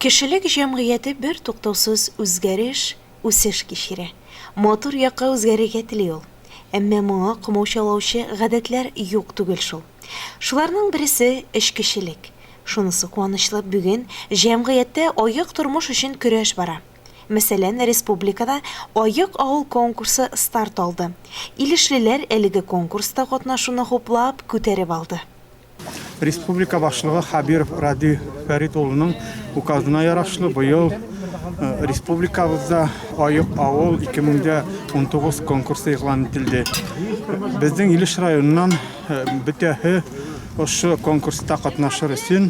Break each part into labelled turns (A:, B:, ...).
A: Кешелек җәмгыяте бертуктаусыз үзгәреш, үсеш кичерә. Матур якка үзгәрергә тели ул. Әмма моңа комаучаулаучы гадәтләр юк түгел шул. Шуларның бересе, эчкечелек. Шунысы куанычлы, бүген җәмгыятьтә аек тормыш өчен көрәш бара. Мәсәлән, республикада Аек авыл конкурсы старт алды. Илешлеләр әлеге конкурста катнашуны хуплап, күтәреп алды. Республика
B: башлыгы Хабиров Радий Фәрит улының указына ярашлы быел республикабызда Аек авыл 2019 конкурсы игълан ителде. Безнең Илеш районыннан бөтәһе ошо конкурста катнашыр өчен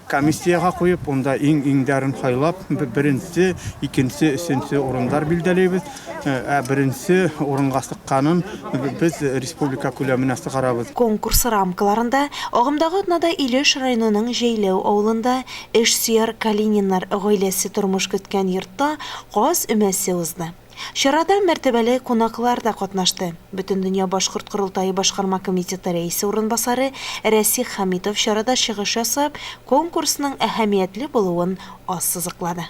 B: Комиссиягә куеп, унда иң-иңдәрен хайлап, беренче, икенче, өченче урындар билдәлибез. Ә беренче урынга чыкканын без республика күләменә чыгарабыз. Конкурс рамкаларында
A: агымдагы атнада Илеш районының Җәйләү авылында эшсөяр Калининнар гаиләсе тормыш көткән йортта каз өмәсе узды. Чарада мәртәбәле кунаклар да катнашты. Бөтендөнья башкорт корылтае башкарма комитеты рәисе урынбасары Рәсих Хәмитов чарада чыгыш ясап, конкурсның әһәмиятле булуын ассызыклады.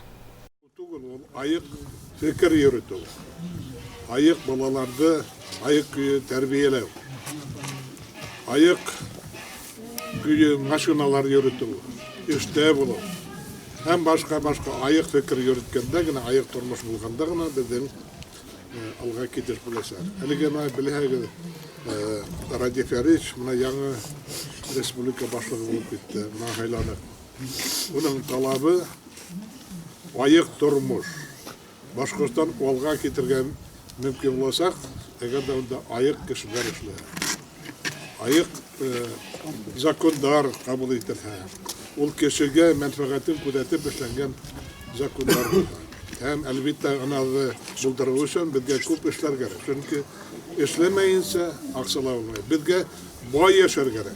A: Түгел,
C: ул аек фикер йөретү, аек балаларды аек көе тәрбияләү, аек Көе машиналар йөртү, эштә булу һәм башка-башка аек фикер йөрткәндә генә, аек тормыш булганда гына безнең алга китеш булачак. Әлеге мә беләһәгез, Радиф Ярич менә яңа республика башлыгы булып китте, менә хайланып. Уның талабы аек тормыш. Башкортстан алга китергән мөмкин булачак, әгәр дә анда аек кешеләр эшлә. Аек закондар кабул ителһә, ул кешегә мәнфәгатен күзәтеп эшләнгән закондар булһа. Һәм, әлбиттә, аназы булдыру өчен безгә күп эшләр кирәк. Чөнки эшләмәенчә акчалар булмый. Безгә бай яшәр кирәк.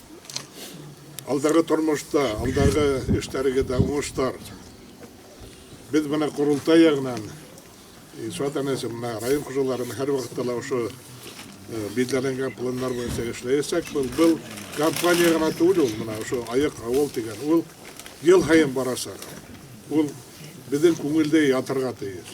C: Алдагы тормышта, алдагы эшләрегә дә уңышлар. Без менә корылтай ягынан Ильшат әнәсе менә район хуҗалары һәр вакытта ла ошо билдәләнгән планнар буенча эшләячәк. Был был компания гына түгел ул, менә ошо аяк авыл дигән ул ел һаен барачак. Ул безнең күңелдә ятырга тиеш.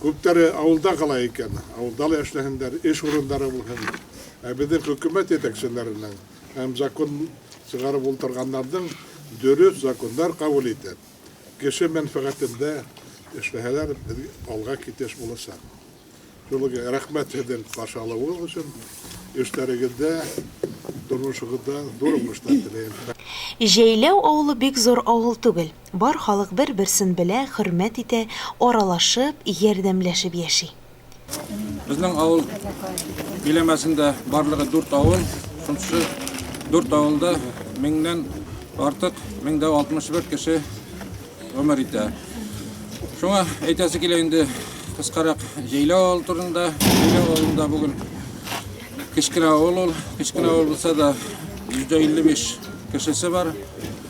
C: Күпләре авылда кала икән, авылда ла эшләһеннәр, эш урыннары булһын. Ә безнең хөкүмәт җитәкчеләренең һәм закон чыгарып ултырганнарның дөрес законнар кабул итеп, кеше мәнфәгатендә эшләһәләр, без алга китеш булачак. Шул ук рәхмәт сезнең каршы алуыгыз өчен, эшләрегездә, тормышыгызда зур уңышлар теләйм. Җәйләү
A: авылы бик зур авыл түгел. Бар халык бер-берсен белә, хөрмәт итә, аралашып, ярдәмләшеп яши. Безнең
D: авыл биләмәсендә барлыгы дүрт авыл, шунсы дүрт авылда меңнән артык, 1061 кеше гомер итә. Шуңа әйтәсе килә инде кыскарак Җәйләү авылы турында. Җәйләү авылында бүген кечкенә авыл ул, кечкенә авыл булса да 155 кешесе бар.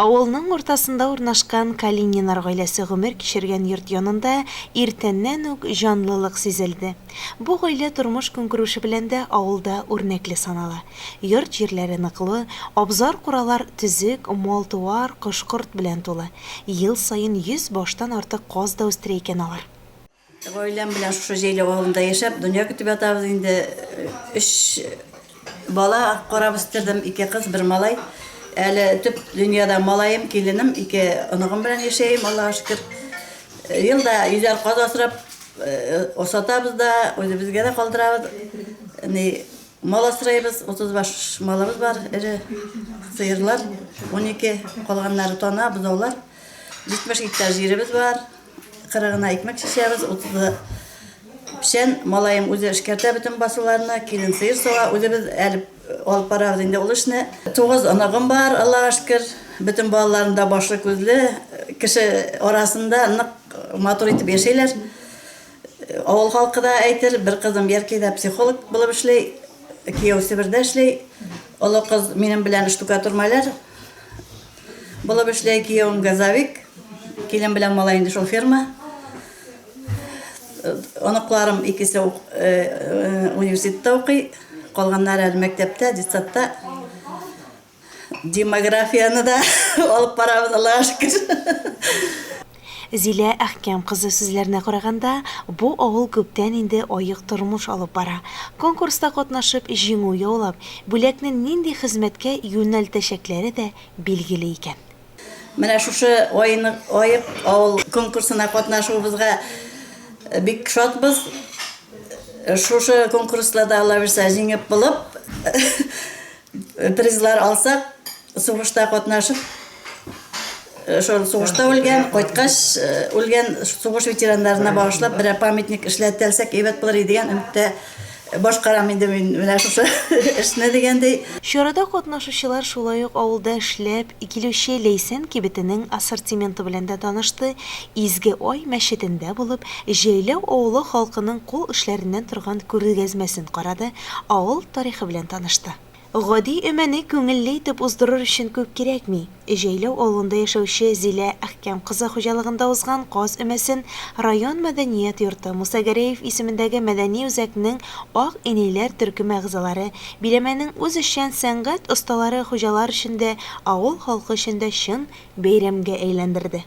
A: Авылның уртасында урнашкан Калининар гаиләсе гомер кичергән йорт янында иртәннән үк җанлылык сизелде. Бу гаилә тормыш-көнкүреше белән дә авылда үрнәкле санала. Йорт-җирләре ныклы, абзар-куралар төзек, мал-туар, кош-корт белән тулы. Ел саен йөз баштан артык каз да үстерә икән алар. Гаиләм
E: белән шушы җәйләү авылында яшәп, дөнья көтеп ятабыз инде. Өч бала карап үстердем, ике кыз, бер малай. Әле төп дөньяда малаем, киленем, ике оныгым белән яшәем, Аллага шөкер. Ел да йөзәр каз асрап, асатабыз да, үзебезгә дә калдырабыз. Ни, мал асрыйбыз, 35 малыбыз бар, эре сыерлар, унике, калганнары тана, бозаулар. 70 гектар җиребез бар. Кырыгына икмәк чишәбез, утызы печән. Малаем үзе эшкәртә бөтен басуларны, килен сыер сава, үзебез әлеп алып барабыз инде ул эшне. Тугыз оныгым бар, Аллага шөкер. Бөтен балаларым да башлы, күзле, кеше арасында нык матур итеп яшәйләр. Авыл халкы да әйтер, бер кызым Яркәйдә психолог булып эшли, кияү Себердә эшли. Олы кыз минем белән штукатур-маляр. Булып эшләй киявем газовик. Килен белән малай инде шул ферма. Оныкларым икесе ук- э, э, университетта укый. Калганнары әле мәктәптә, детсадта. Демографияне дә алып барабыз, Аллага шөкер.
A: Зилә Әхкәм кызы сүзләренә караганда, бу авыл күптән инде аек тормыш алып бара. Конкурста катнашып, җиңү яулап, бүләкне нинди хезмәткә юнәлтәчәкләре дә билгеле икән. Менә шушы
E: Аек авыл конкурсына катнашуыбызга бик шатбыз. Шушы конкурста да, аллабирса, җиңеп булып, Призлар алсак, сугышта катнашып, шул сугышта үлгән, кайткач үлгән сугыш ветераннарына багышлап берәр памятник эшләтәлсәк әйбәт булыр иде дигән өметтә башкарам инде мин менә шушы эшне дигәндәй. Чарада катнашучылар
A: шулай ук авылда эшләп килүче Ләйсән кибетенең ассортименты белән дә танышты, Изге Ай мәчетендә булып, Җәйләү авылы халкының кул эшләреннән торган күргәзмәсен карады, авыл тарихы белән танышты. Гади өмәне күңелле итеп уздырыр өчен күп кирәкми. Җәйләү авылында яшәүче Зилә Әхкәм кызы хуҗалыгында узган каз өмәсен район мәдәният йорты Муса Гәрәев исемендәге мәдәни үзәкнең Ак инәйләр төркеме әгъзалары, биләмәнең үзешчән сәнгать осталары хуҗалар өчен дә, авыл халкы өчен дә чын бәйрәмгә әйләндерде.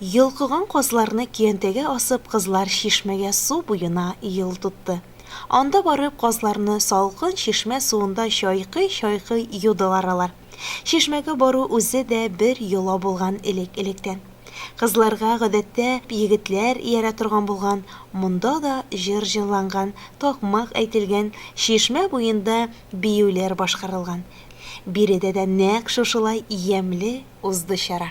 A: Йолкыган казларны көянтәгә асып, кызлар чишмәгә су буена юл тотты. Анда барып, казларны салкын чишмә суында чайкый-чайкый юдылар алар. Чишмәгә бару үзе дә бер йола булган элек-электән. Кызларга, гадәттә, егетләр иярә торган булган, монда да җыр җырланган, такмак әйтелгән, чишмә буенда биюләр башкарылган. Биредә дә нәкъ шушылай ямьле узды чара.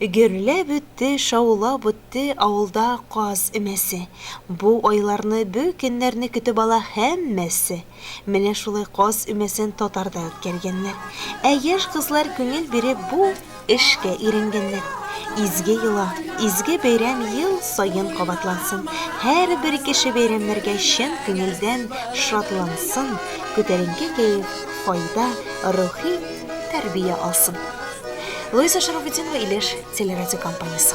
A: Гөрләп үтте, шаулап үтте авылда каз өмәсе. Бу айларны, бу көннәрне көтеп ала һәммәсе. Менә шулай каз өмәсен татарда үткәргәннәр. Ә яшь кызлар күңел биреп бу эшкә өйрәнгәннәр. Изге йола, изге бәйрәм ел саен кабатлансын, һәрбер кеше бәйрәмнәргә чын күңелдән шатлансын, күтәренке кәеф, файда, рухи тәрбия алсын. Луиза Шарубетдинова, Илеш телерадиокомпаниясе.